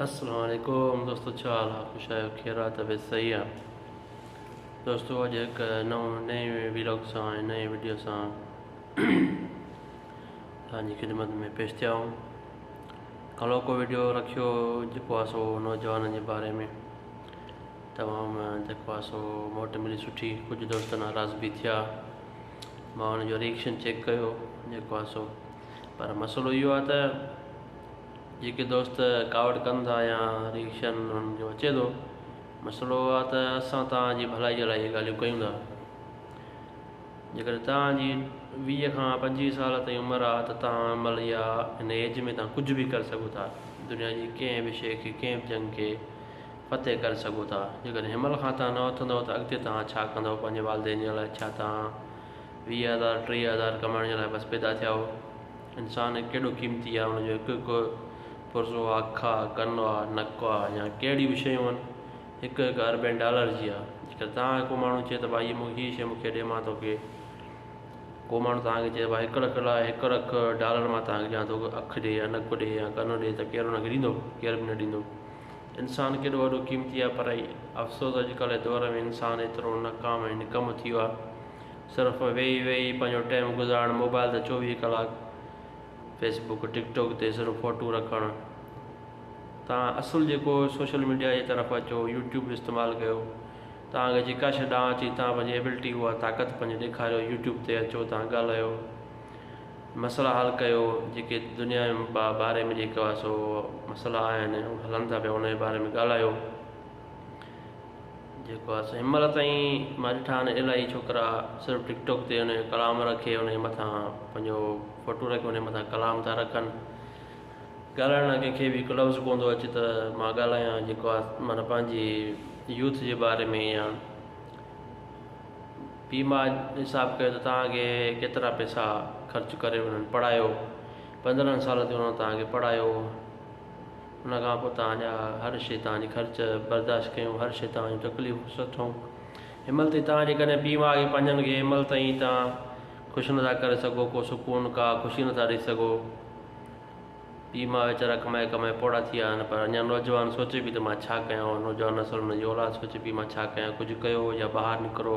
السلام عليڪم دوستو ڇا حال آ خوش آهيو خير آ طبيعت صحيح آ دوستو اڄ هڪ نئون نئين ويلاگ سان ۽ نئين ويڊيو سان تنهنجي خدمت ۾ پيش ٿيا آهيون ڪلوڪو ويڊيو رکيو جيڪو آ سو نوجوانن جي باري ۾ تمام جيڪو آ سو موٽ ملي سٺي ڪجهه دوست ناراض به ٿيا مان ان جو ريئڪشن چيڪ ڪيو جيڪو آ سو پر مسئلو اهو آ ته جيڪي دوست ڪاوڙ ڪن ٿا يا ريئڪشن انهن جو اچي ٿو مسئلو اهو آهي ته اسان توهان جي ڀلائي جي لاء اهي ڳالهيون ڪيون ٿا جيڪڏهن توهان جي ويهه کان پنجويهه سال تائين عمر آهي ته توهان ان مهل يا هن ايج ۾ توهان ڪجهه به ڪري سگهو ٿا دنيا جي ڪنهن به شيء کي ڪنهن به جنگ کي فتح ڪري سگهو ٿا جيڪڏهن هن مهل کان توهان نه اٿندؤ ته اڳتي توهان ڇا ڪندؤ پنهنجي والدين جي لاء ڇا توهان ويهه هزار ٽيهه هزار ڪمائڻ جي لاء بس پيدا ٿيا آهيو انسان ڪيڏو قيمتي آهي، ان جو هڪ هڪ پرزو، اک آهي، ڪن آهي، نڪ آهي يا ڪهڙيون به شيون آهن، هڪ هڪ اربين ڊالر جي آهي. جيڪڏهن توهان کي ڪو ماڻهو چئي ته ڀاء هيء هيء شيء مون کي ڏي مان توکي ڪو ماڻهو توهان کي چئي ته ڀاء هڪ لک لاء هڪ لک ڊالر مان توهان کي ڏيان ٿو اک ڏي يا نڪ ڏي يا ڪن ڏي ته ڪير ان کي ڏيندو؟ ڪير به نه ڏيندو. انسان ڪيڏو وڏو قيمتي آهي پر افسوس اڄڪلهه جي دور ۾ انسان ايترو ناڪام ۽ نڪم ٿي ويو آهي. صرف ۾ ويهي ويهي پنهنجو ٽيم گذارڻ موبائل تي چوويهه ڪلاڪ فيس بڪ ٽڪ ٽوڪ تي صرف فوٽو رکڻ توهان اصل جيڪو سوشل ميڊيا جي طرف اچو يوٽيوب جو استعمال ڪيو توهان کي جيڪا شيء ڏانهن اچي توهان پنهنجي ايبلٽي اها طاقت پنهنجي ڏيکاريو يوٽيوب تي اچو توهان ڳالهايو مسئلا حل ڪيو جيڪي دنيا جي باري ۾ جيڪو سو مسئلا آهن هلن ٿا پيا ان جي باري ۾ ڳالهايو جيڪو آ سو ھنمھل تائين مان ڏٺا آھن الاھي ڇوڪرا صرف ٽڪ ٽوڪ تي انھي جو ڪلام رکي انھي مٿان پنھنجو فوٽو رکي انھي مٿان ڪلام ٿا رکن ڳالھائڻ لاء ڪنھن کي به ھڪ لفظ ڪون ٿو اچي ته مان ڳالھايان جيڪو آ معنيٰ پنھنجي يوٿ جي باري ۾ يا ٻي مان حساب ڪيو ته تھان کي ڪيترا پيسا خرچ ڪري انھن پڙھايو پندرھن سال تي انھن تھان کي پڙھايو ان کان پوء توهان جا هر شيء، توهان جي خرچ، برداشت ڪيون، هر شيء توهان جون تڪليفون به سٺون. ان مهل تائين توهان جيڪڏهن پيء ماء کي پنهنجن کي ان مهل تائين توهان خوش نٿا ڪري سگهو، ڪو سڪون، ڪا خوشي نٿا ڏئي سگهو. پيء ماء ويچارا ڪمائي ڪمائي پوڙها ٿي ويا آهن، پر اڃا نوجوان سوچي پئي ته مان ڇا ڪيان، نوجوان نسل، انهن جي اولاد سوچي پئي مان ڇا ڪيان، ڪجهه ڪيو يا ٻاهر نڪرو،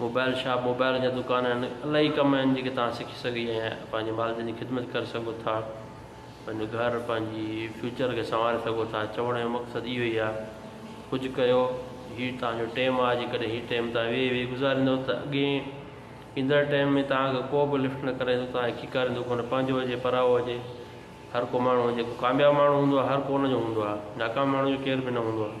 موبائل شاپ موبائل جا دڪان آهن الاهي ڪم آهن جيڪي تان سکي سگهي ۽ پنهنجي والدين جي خدمت ڪري سگهو ٿا پنهنجو گهر پنهنجي فيوچر کي سنواري سگهو ٿا چوڻ جو مقصد اهو ئي آهي ڪجهه ڪيو هي تان جو ٽيم آهي جيڪڏهن هي ٽيم تان ويهي ويهي گذاريندو ته اڳي ايندڙ ٽيم ۾ تان کي ڪو به لفٽ نه ڪري سگهو تان کي کيڪاريندو ڪونه پنهنجو هجي پرائو هجي هر ڪو ماڻهو جيڪو ڪامياب ماڻهو هوندو آهي هر ڪو ان جو هوندو آهي ناڪام ماڻهو جو ڪير به نه هوندو آهي.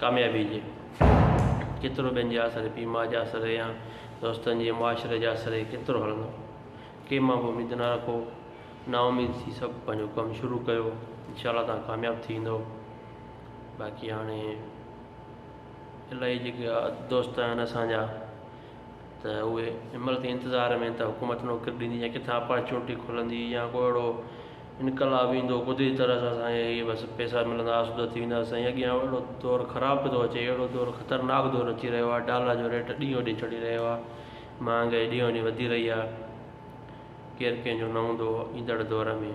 ڪاميابي جي ڪيترو ٻين جي آسري پيء ماء جي آسري يا دوستن جي معاشري جي آسري ڪيترو هلندو ڪنهن مان به اميد نه رکو نا اميد ٿي سڀ پنهنجو ڪم شروع ڪيو انشاء الله تان ڪامياب ٿي ويندو باقي هاڻي الاهي جيڪي دوست آهن اسان جا ته اهي امرت جي انتظار ۾ ته حڪومت نوڪري ڏيندي يا ڪٿان اپارچونٽي کلندي يا ڪو اهڙو انقلاب ايندو قدرتي طرح سان اسان کي بس پئسا ملندا آسودا ٿي وينداسين سائين اڳيان اهڙو دور خراب پيو ٿو اچي اهڙو دور خطرناڪ دور اچي رهيو آهي ڊالر جو ريٽ ڏينهون ڏينهن چڙهي رهيو آهي مهانگائي ڏينهون ڏينهن وڌي رهي آهي ڪير ڪنهن جو نه هوندو ايندڙ دور ۾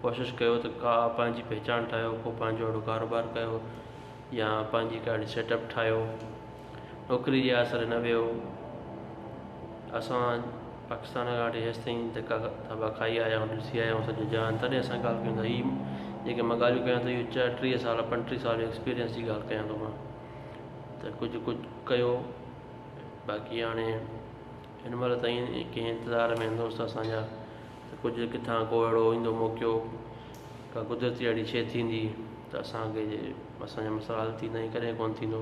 ڪوشش ڪيو ته ڪا پنهنجي پهچان ٺاهيو ڪو پنهنجو اهڙو ڪاروبار ڪيو يا پنهنجي ڪا اهڙي سيٽ اپ ٺاهيو نوڪري جي آسري نه ويو. اسان پاڪستان کان وٺي هيستائين ڌڪا ٿاٻا کائي آيا آهيون، ڏسي آيا آهيون سڄو جهان، تڏهن اسان ڳالهه ڪيون ٿا. هي جيڪي مان ڳالهيون ڪيان ٿو، اهو چئٽيهه سال، پنجٽيهه سال جو ايڪسپيرينس جي ڳالهه ڪيان ٿو مان ته ڪجهه ڪجهه ڪيو، باقي هاڻي هن مهل تائين ڪنهن انتظار ۾ آهن دوست اسان جا ته ڪجهه ڪٿان ڪو اهڙو ايندو موقعو، ڪا قدرتي اهڙي شيء ٿيندي ته اسان کي اسان جا مسئلا حل ٿيندا ائين ڪڏهن ڪونه ٿيندو.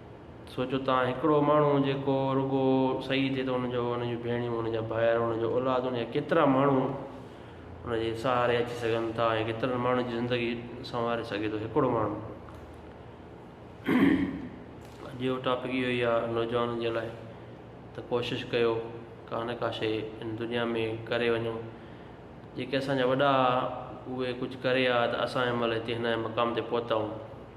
سوچو ته هڪڙو ماڻهو جيڪو رڳو صحيح ٿئي ته ان جو ان جون ڀيڻيون ان جا ڀائر ان جو اولاد ان جا ڪيترا ماڻهو ان جي سهاري اچي سگهن ٿا ۽ ڪيترن ماڻهن جي زندگي سنواري سگهي ٿو هڪڙو ماڻهو اڄ جو ٽاپڪ اهو ئي آهي نوجوانن جي لاء ته ڪوشش ڪيو ڪا نه ڪا شيء ان دنيا ۾ ڪري وڃو جيڪي اسان جا وڏا اهي ڪجهه ڪري آيا ته اسان هن مهل هتي هن مقام تي پهتا آهيون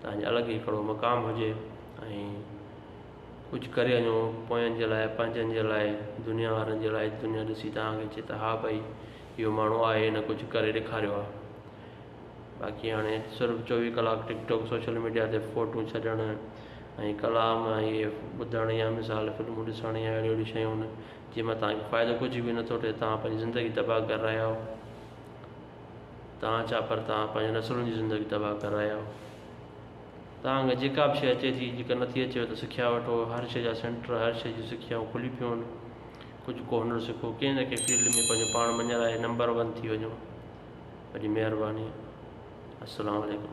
تنهنجي الڳ ئي ڪھڙو مقام ھجي ۽ ڪجھ ڪري وڃو پوين جي لاء پنهنجن جي لاء دنيا وارن جي لاء دنيا ڏسي تنهن کي چي ته ھا ڀئي اھو ماڻھو آھي ھن ڪجھ ڪري ڏيکاريو آھي باقي ھاڻي صرف چوويھ ڪلاڪ ٽڪ ٽاڪ سوشل ميڊيا تي فوٽو ڇڏڻ ۽ ڪلام اھي ٻڌڻ يا مثال فلمون ڏسڻ يا اھڙيون اھڙيون شيون جنهن مان تنهن کي فائدو ڪجھ به نٿو ٿئي تنهن پنهنجي زندگي تباھ ڪري رھيا آھيو توهان ڇا پر توهان پنهنجي نسلن جي زندگي تباهه ڪري رهيا آهيو توهان کي جيڪا به شيء اچي ٿي جيڪا نٿي اچيو ته سکيا وٺو هر شيء جا سينٽر هر شيء جون سکيائون کلي پيون آهن ڪجهه ڪو هنر سکو ڪنهن نه ڪنهن فيلڊ ۾ پنهنجو پاڻ مڃرائي نمبر ون ٿي وڃو وڏي مهرباني السلام عليڪم.